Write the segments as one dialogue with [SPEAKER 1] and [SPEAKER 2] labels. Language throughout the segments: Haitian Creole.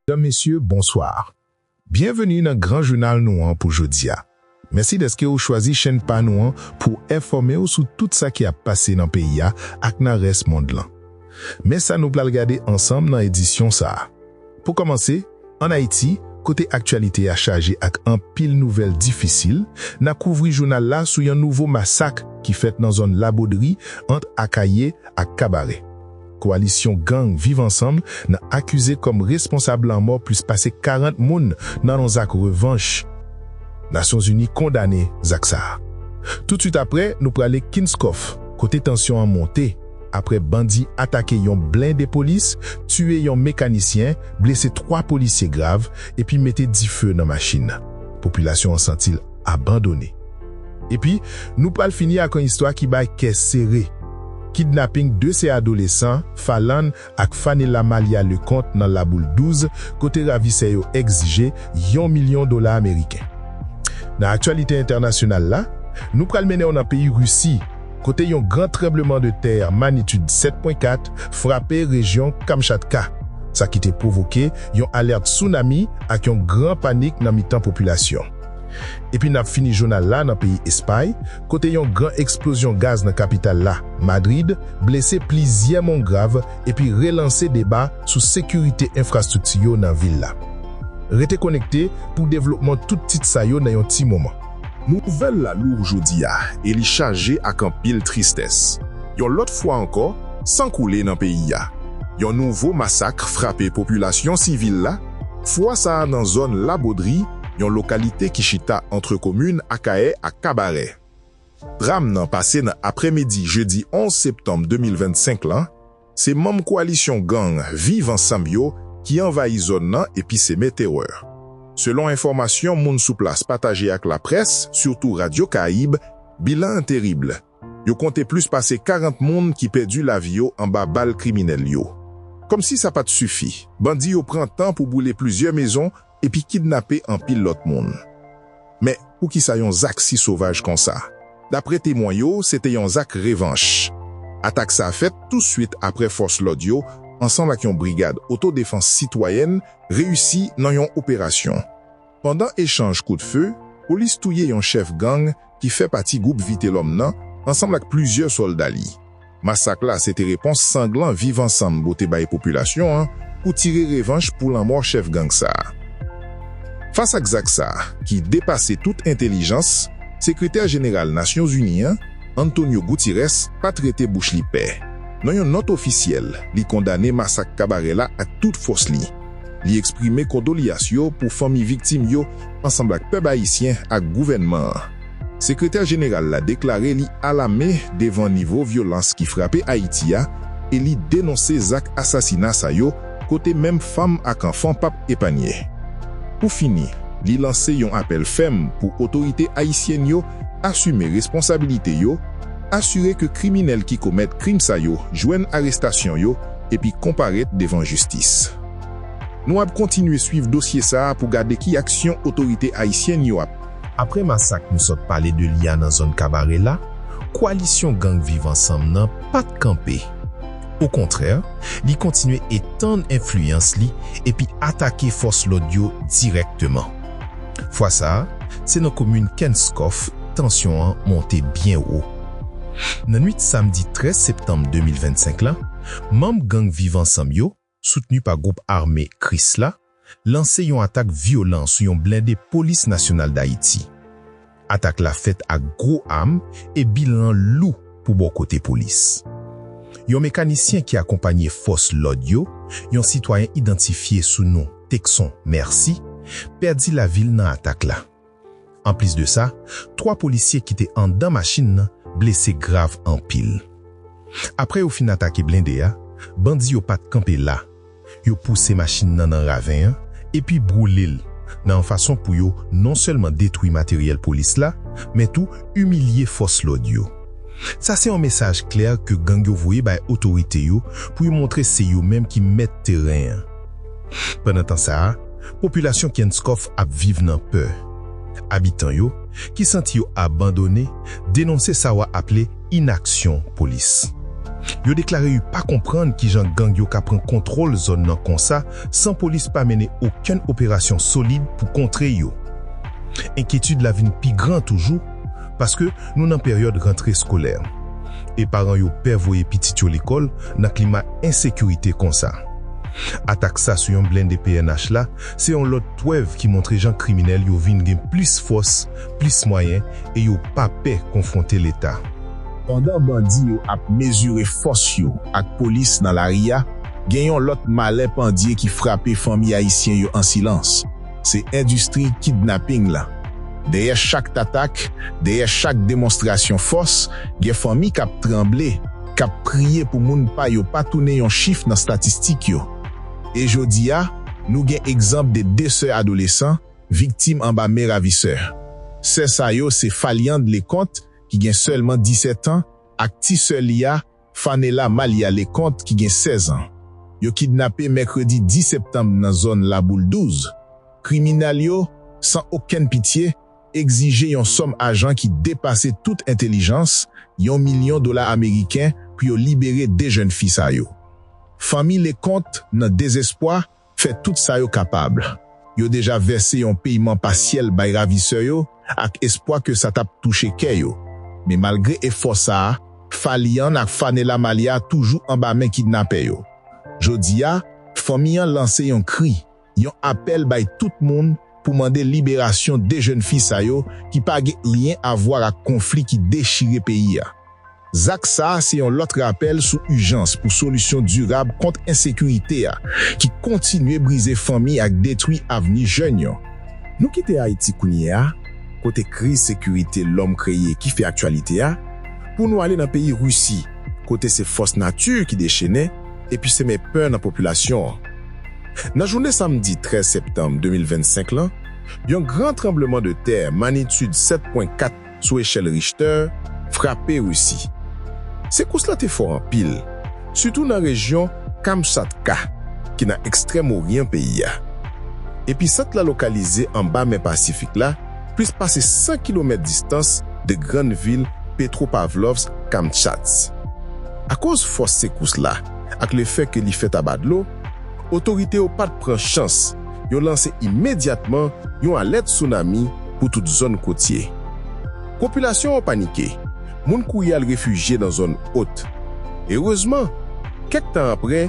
[SPEAKER 1] Medam, Mesye, bonsoir. Byenveni nan gran jounal nou an pou jodi a. Mèsi dèske ou chwazi chenn pa nou an pou w enfòme w sou tout sa ki ap pase nan peyi a ak nan rès mond lan. Men sa nou pral gade ansanm nan edisyon sa a. Pou kòmanse, ann Ayiti, kote aktyalite a chaje ak anpil nouvèl difisil, na kouvri jounal la sou yon nouvo masak ki fèt nan zòn Labodri ant Akaye ak Kabarè. Koalisyon gang Viv Ansanm nan akize kòm responsab lanmò plis pase 40 moun nan yon zak revanch. Nasyonzini kondane zak sa a. Toutswit apre, nou prale Kinskòf, kote tansyon an monte apre bandi atake yon blende polis, tiye yon mekanisyen, blese 3 polisye grav epi mete dife nan machin. Popilasyon an santi l. abandone. Epi, nou pral fini ak yon istwa ki bay kè sere, kidnaping 2 sè adolesan, Falland ak Fanella Malia Leconte nan La Boule 12, kote ravisè yo egzije yon milyon dola ameriken. Nan aktyalite entènasyonal la, nou pral mennen w nan peyi Risi, kote yon gran tranbleman de tè manitid 7.4 frape rejyon Kamchatka, sa ki te pwovoke yon alèt tsunami ak yon gran panik nan mitan popilasyon. Epi n ap fini jounal la nan peyi Espay, kote yon gran eksplozyon gaz nan kapital la, Madrid, blese plizyè moun grav epi relanse deba sou sekirite enfrastrikti yo nan vil la. Rete konekte pou devlopman tout tit sa yo nan yon ti moman. Nouvèl la
[SPEAKER 2] lou jodi a e li chaje ak anpil tristès. Yon lòt fwa ankò, san koule nan peyi a. Yon nouvo masak frape popilasyon sivil la, fwa sa a nan zòn La Bodri, yon lokalite ki chita antre komin Akayè ak Kabarè. Dram nan pase nan aprèmidi jedi 11 septanm 2025 lan, se manm koalisyon gang Viv Ansanm yo ki anvayi zòn nan epi seme terè. Selon enfòmasyon moun sou plas pataje ak laprès, sitou Radio Caraïbes, bilan an terib. Yo konte plis pase 40 moun ki pèdi lavi yo anba bal kriminèl yo. Kòmsi sa pa t sifi, bandi yo pran tan pou boule plizyè mezon epi kidnape anpil lòt moun. Men, poukisa yon zak si sovaj konsa? Dapre temwen yo, se te yon zak revanch. Atak sa fèt tousuit apre fòs lòd yo, ansanm ak yon brigad otodefans sitwayèn, reyisi nan yon operasyon. Pandan echanj kout fe, polis touye yon chèf gang ki fè pati gwoup Vitelòm nan ansanm ak plizyè sòlda li. Masak la se te repons sanglan Viv Ansanm bote bay popilasyon an pou tire revanch pou lanmò chèf gang sa. Fas ak zak sa ki depase tout entelijans, Sekretè Jeneral Nasyonzini an, Antonio Gutirès pat rete bouch li pe. Nan yon nòt ofisyèl, li kondane masak Kabarè la ak tout fòs li. Li eksprime kondolyas yo pou fanmi viktim yo ansanb ak pèp ayisyen ak gouvènman an. Sekretè jeneral la deklare li alame devan nivo vyolans ki frape Ayiti a e li denonse zak asasina sa yo kote menm fanm ak anfan pap epanye. Pou fini, li lanse yon apèl fèm pou otorite ayisyèn yo asime responsabilite yo, asire ke kriminèl ki komèt krim sa yo jwenn arestasyon yo, epi konparèt devan jistis. Nou ap kontinye swiv dosye sa a pou gade ki aksyon otorite ayisyèn yo ap. Aprè masak
[SPEAKER 1] nou sot pale de li a nan zòn Kabarè la, koalisyon gang Viv Ansanm nan pa t kanpe. Okontrè, li kontinye etann enfliyans li epi atake fòs lòd yo dirèkteman. Fwa sa a, se nan komin Kenskòf tansyon an monte byen wo. Nan nwit samdi 13 septanm 2025 la, manm gang Viv Ansanm yo, soutni pa gwoup ame Krisla, lanse yon atak vyolan sou yon blende Polis Nasyonal Dayiti. Atak la fèt ak gwo am e bilan lou pou bò kote polis. Yon mekanisyen ki akonpanye fòs lòd yo, yon sitwayen idantifye sou non Texon Mercy, pèdi lavi l nan atak la. Anplis de sa, 3 polisye ki te andan machin nan blese grav anpil. Aprè yo fin atake blende a, bandi yo pa t kanpe la, Yo pouse machin nan nan raven an epi boule l nan yon fason pou yo non sèlman detwi materyèl polis la, men tou imilye fòs lòd yo. Sa se yon mesaj klè ke gang yo voye bay otorite yo pou yo montre se yo menm ki mèt teren an. Pandan tan sa a, popilasyon Kenskòf ap viv nan pè. Abitan yo, ki santi yo abandone, denonse sa wa aple, inaksyon polis. Yo deklare u pa konprann kijan gang yo ka pran kontwòl zòn nan konsa san polis pa mennen okenn operasyon solid pou kontre yo. Enkyetid la vin pi gran toujou paske nou nan peryòd rantre skolè e paran yo pè voye pitit yo lekòl nan klima ensekirite konsa. Atak sa sou yon blende pnh la se yon lòt pwèv ki montre jan kriminèl yo vin gen plis fòs plis mwayen e yo pa pè konfwonte leta. Pandan bandi
[SPEAKER 2] yo ap mezire fòs yo ak polis nan lari a, gen yon lòt malè pandye ki frape fanmi ayisyen yo an silans, se endistri kidnaping la. Dèyè chak tatak, dèyè chak demonstrasyon fòs, gen fanmi k ap tranble, k ap priye pou moun pa yo pa tounen yon chif nan statistik yo. E jodi a, nou gen egzanp de 2 sè adolesan, viktim anba men ravisè. Sè sa yo se Phaliande Leconte ki gen sèlman 17 an ak ti sè li a, Phanella Malia Leconte ki gen 16 an. Yo kidnape mèkredi 10 septanm nan zòn Laboul 12. Kriminal yo, san okenn pitye, egzije yon sòm ajan ki depase tout entelijans, yon milyon dola ameriken pou yo libere 2 jèn fi sa yo. Fanmi Leconte nan dezespwa fè tout sa yo kapab. Yo deja vèse yon peyman pasyèl bay ravisè yo ak espwa ke sa tap touche kè yo. Men malgre efò sa, Falian ak Fanela Malia toujou anba men kidnapè yo. Jodi a, fanmi an lanse yon kri, yon apèl bay tout moun, pou mande liberasyon 2 jèn fi sa yo ki pa gen ryen avwa ak konfli ki dechire peyi a. Zak sa se yon lòt rapèl sou ijans pou solisyon dirab kont ensekirite a ki kontinye brize fanmi ak detwi avni jèn yo. Nou kite Ayiti
[SPEAKER 3] kounye a, kote kriz sekirite lòm kreye ki fè aktyalite a, pou nou ale nan peyi Risi, kote se fòs nati ki dechennen epi semen pè nan popilasyon an. Nan jounen samdi 13 septanm 2025 lan, yon gran tranbleman de tè manitid 7.4 sou echèl Richter frape Risi. Sekous la te fò anpil, sitou nan rejyon Kamchatka, ki nan ekstrèm oryan peyi a. Episant la lokalize anba Mè Pasifik la, plis pase 100 kilomèt distans de grann vil Petropavlovsk-Kamchatsk. Akoz fòs sekous la ak le fè ke li fèt aba dlo, Otorite yo pa t pran chans, yo lanse imedyatman yon alèt tsunami pou tout zòn kotye. Popilasyon an panike, moun kouri al refijye nan zòn ot. Erezman, kèk tan apre,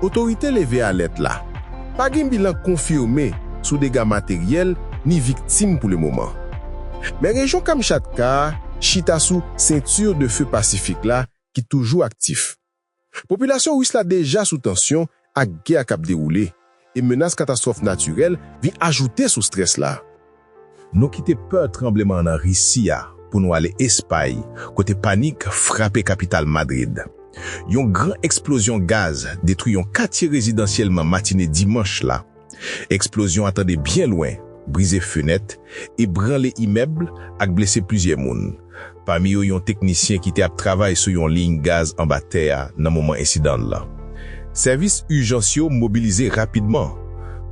[SPEAKER 3] otorite leve alèt la. Pa gen bilan konfime sou dega materyèl ni viktim pou lemoman. Men rejyon Kamchatka a chita sou Ceinture de feu Pacifique la ki toujou aktif. Popilasyon Ris la deja sou tansyon ak gè k ap dewoule, e menas katastwòf natirèl vin ajoute sou strès la. Nou kite
[SPEAKER 1] pè tranbleman nan Risi a pou nou ale Espay, kote panik frape kapital Madrid. Yon gran eksplozyon gaz detwi yon katye rezidansyèlman matine dimanch la. Eksplozyon a tande byen lwen, brize fenèt, ebranle imèb ak blese plizyè moun, pami yo yon teknisyen ki te ap travay sou yon liy gaz anba tè a nan moman ensidan la. Sèvis ijans yo mobilize rapidman,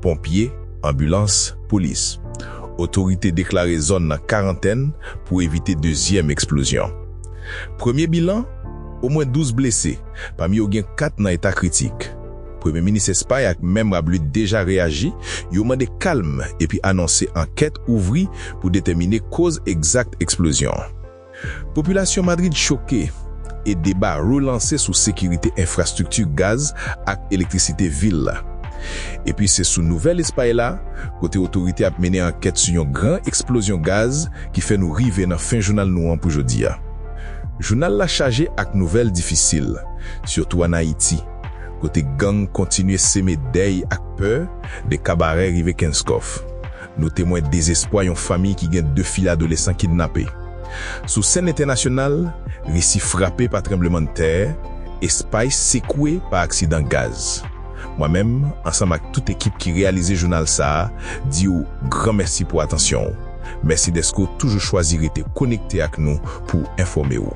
[SPEAKER 1] ponpye, anbilans, polis. Otorite deklare zòn nan karantèn pou evite dezyèm eksplozyon. Premye bilan, omwen 12 blese, pami yo gen 4 nan eta kritik. Premye Minis Espay ak Mèm Rabluit deja reyaji, yo mande kalm epi anonse ankèt ouvri pou detèmine koz egzakt eksplozyon an. Popilasyon Madrid choke, e deba relanse sou sekirite enfrastrikti gaz ak elektrisite vil la. Epi se sou nouvèl Espay la, kote otorite ap mennen ankèt sou yon gran eksplozyon gaz ki fè nou rive nan fen jounal nou an pou jodi a. Jounal la chaje ak nouvèl difisil, sitou an Ayiti. kote gang kontinye seme dèy ak pè de Kabarè rive Kenskòf. Nou temwen dezespwa yon famiy ki gen 2 fi adolesan kidnape. Sou sèn entènasyonal, Risi frape pa tranblemann tè, Espay sekwe pa aksidan gaz. Mwen menm, ansanm ak tout ekip ki reyalize jounal sa a, di ou gran mèsi pou atansyon ou. Mèsi dèske ou toujou chwazi rete konekte ak nou pou enfòme ou.